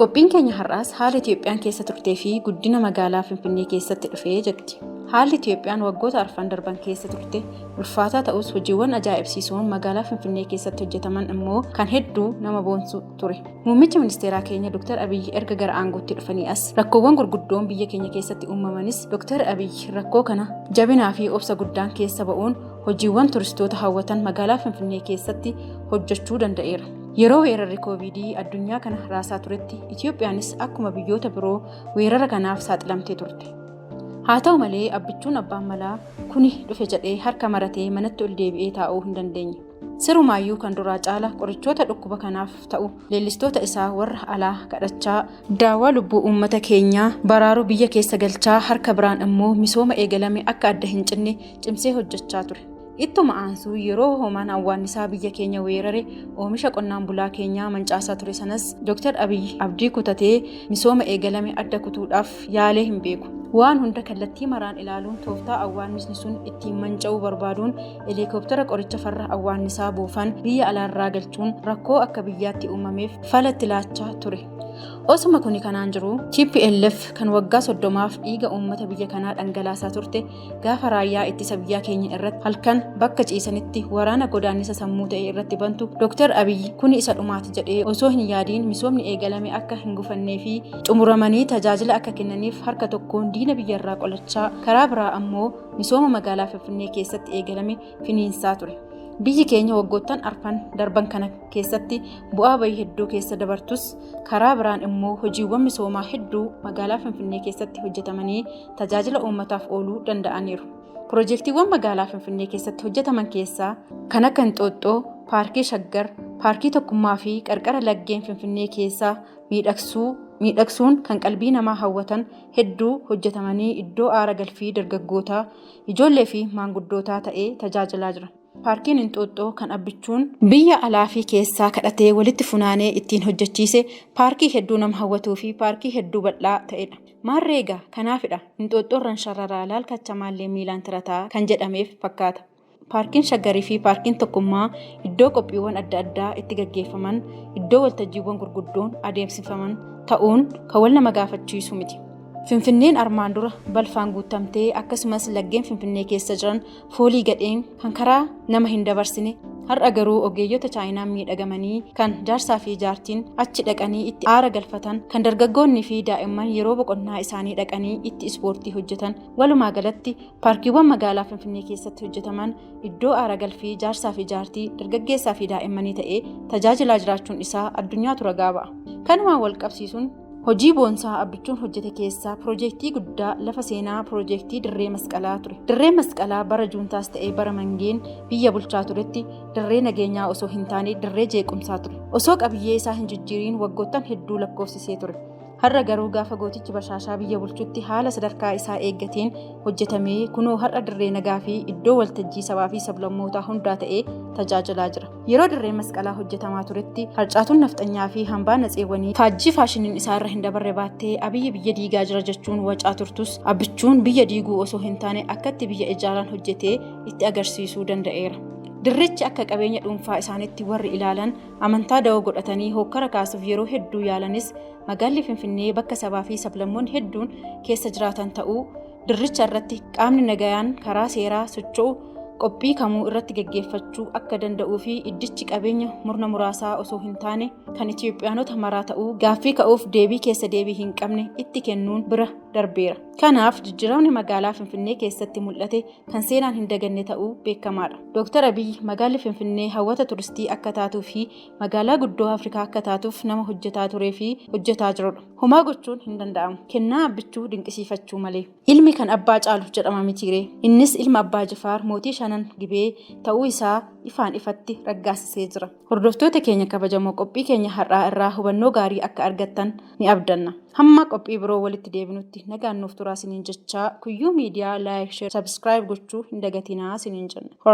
Qophiin keenya har'aas haala Itiyoophiyaan keessa turtee fi guddina magaalaa Finfinnee keessatti dhufe jetti. Haalli Itiyoophiyaan waggoota arfan darban keessa turte ulfaataa ta'us hojiiwwan ajaa'ibsiisoon magaalaa Finfinnee keessatti hojjetaman immoo kan hedduu nama boonsu ture. Muummichi ministeeraa keenya Dr. Abiyyi erga gara aangootti dhufanii as rakkoowwan gurguddoon biyya keenya keessatti uumamanis Dr. Abiyyi rakkoo kana jabinaa fi obsa guddaan keessa ba'uun hojiiwwan turistoota hawwatan magaalaa Finfinnee keessatti hojjechuu danda'eera. Yeroo weerarri kooviidii addunyaa kana raasaa turetti Itiyoophiyaanis akkuma biyyoota biroo weerara kanaaf saaxilamtee turte. Haa ta'u malee abbichuun abbaan malaa kuni dhufe jedhee harka maratee manatti ol deebi'ee taa'uu hin dandeenye. Sirumaayyuu kan duraa caala qorichoota dhukkuba kanaaf ta'u leellistoota isaa warra alaa kadhachaa daawaa lubbuu uummata keenyaa baraaruu biyya keessa galchaa harka biraan immoo misooma eegalame akka adda hin cinne cimsee hojjechaa ture. Ittuma aansuu yeroo hoomaan awwaannisaa biyya keenya weerare oomisha qonnaan bulaa keenyaa mancaasaa ture sanas Dr. Abiy abdii kutatee misooma eegalame adda kutuudhaaf yaalee hin beeku. Waan hunda kallattii maraan ilaaluun tooftaa awwaannisni sun ittiin manca'uu barbaaduun heliikooptara qoricha farra awwaannisaa buufan biyya alaarraa galchuun rakkoo akka biyyaatti uumameef fala itti laachaa ture. Osuma kuni kanaan jiru TPLF kan waggaa soddomaaf dhiiga uummata biyya kanaa dhangalaasaa turte gaafa raayyaa ittisa biyyaa keenya irratti halkan bakka ciisanitti waraana godaannisa sammuu ta'e irratti bantu Dr. Abiyyi kuni isa dhumaati jedhee osoo hin yaadiin misoomni eegalame akka hin gufannee fi xumuramanii tajaajila akka kennaniif harka tokkoon diina biyyarraa qolachaa karaa biraa ammoo misooma magaalaa Finfinnee keessatti eegalame finiinsaa ture. Biyyi keenya waggoottan arfan darban kana keessatti bu'aa bayii hedduu keessa dabartus karaa biraan immoo hojiiwwan misoomaa hedduu magaalaa Finfinnee keessatti hojjetamanii tajaajila uummataaf ooluu danda'aniiru. Pirojektiiwwan magaalaa Finfinnee keessatti hojjetaman keessaa kan akka Inxooxxoo, Paarkii Shaggar, Paarkii Tokkummaa fi qarqara laggeen Finfinnee keessaa miidhagsuu miidhagsuun kan qalbii namaa hawwatan hedduu hojjetamanii iddoo aara galfii dargaggootaa, ijoollee fi maanguddootaa ta'ee tajaajilaa jira. Paarkiin Inxooxxoo kan abbichuun biyya alaa fi keessaa kadhatee walitti funaanee ittiin hojjechiise paarkii hedduu nama hawwatuu fi paarkii hedduu bal'aa ta'edha. Maarree egaa kanaafidha Inxooxxoo irran sharraraa laal kacha maallee miilaan tirataa kan jedhameef fakkaata. Paarkiin Shaggar fi Paarkiin Tokkummaa iddoo qophiiwwan adda addaa itti gaggeeffaman, iddoo waltajjiiwwan gurguddoon adeemsifaman ta'uun kan wal nama gaafachiisu miti. Finfinneen armaan dura balfaan guuttamtee akkasumas laggeen Finfinnee keessa jiran foolii gadheen kan karaa nama hin dabarsine har'a garuu ogeeyyota chaayinaan miidhagamanii kan jaarsaa fi jaartiin achi dhaqanii itti aara galfatan kan dargaggoonnii fi daa'imman yeroo boqonnaa isaanii dhaqanii itti ispoortii hojjetan walumaa galatti paarkiiwwan magaalaa finfinnee keessatti hojjetaman iddoo aara galfii jaarsaa fi jaartii dargaggeessaa fi daa'immanii ta'ee tajaajilaa jiraachuun isaa addunyaatu ragaa ba'a kanumaan wal qabsiisuun Hojii boonsaa Abbichuun hojjete keessaa piroojeektii guddaa lafa seenaa piroojeektii dirree masqalaa ture. Dirree masqalaa bara juuntaas ta'ee bara mangeen biyya bulchaa turetti dirree nageenyaa osoo hin taane dirree jeequmsaa ture. Osoo qabiyyee isaa hin jijjiiriin waggoottan hedduu lakkoofsisee ture. Har'a garuu gaafa gootichi bashaashaa biyya bulchutti haala sadarkaa isaa eeggateen hojjetamee kunoo har'a dirree nagaa fi iddoo waltajjii sabaa fi sablammootaa hundaa ta'ee tajaajilaa jira. Yeroo dirree masqalaa hojjetamaa turetti harcaatuun nafxanyaa fi hambaa natseewwanii faajjii faashiniin isaa irra hin dabarre baattee abiyyi biyya diigaa jira jechuun wacaa turtus abbichuun biyya diiguu osoo hin taane akkatti biyya ijaaraan hojjetee itti agarsiisuu danda'eera. Dirrichi akka qabeenya dhuunfaa isaanitti warri ilaalan amantaa da'oo godhatanii hookkara kaasuuf yeroo hedduu yaalanis magaalli Finfinnee bakka sabaa fi sablammoonni hedduun keessa jiraatan ta'uu dirricha irratti qaamni nagayaan karaa seeraa socho'u qophii kamuu irratti gaggeeffachuu akka danda'uu fi iddichi qabeenya murna muraasaa osoo hin taane kan Itiyoophiyaanota maraa ta'uu gaaffii ka'uuf deebii keessa deebii hin qabne itti kennuun bira darbeera. Kanaaf jijjiiramni magaalaa Finfinnee keessatti mul'ate kan seenaan hin daganne ta'uu beekamaadha. Dooktar Abiy magaalli Finfinnee hawwata turistii akka taatuu fi magaalaa guddoo Afrikaa akka taatuuf nama hojjetaa turee fi hojjetaa jirudha. Homaa gochuun hin danda'amu. Kennaa abbichuu dinqisiifachuu malee. Ilmi kan abbaa caalu jedhama mitiiree. Innis ilma abbaa Jifaar mootii shanan gibee ta'uu isaa ifaan ifatti raggaasisee jira. Hordoftoota keenya kabajamoo qophii keenya har'aa irraa hubannoo gaarii akka argattan ni abdanna. Hamma qophii biroo walitti deebinutti nagaan nuuf turaa siniin jechaa Kuyyuu Miidiyaa like, share, subscribe gochuu hin dagatinaa siniin jenna.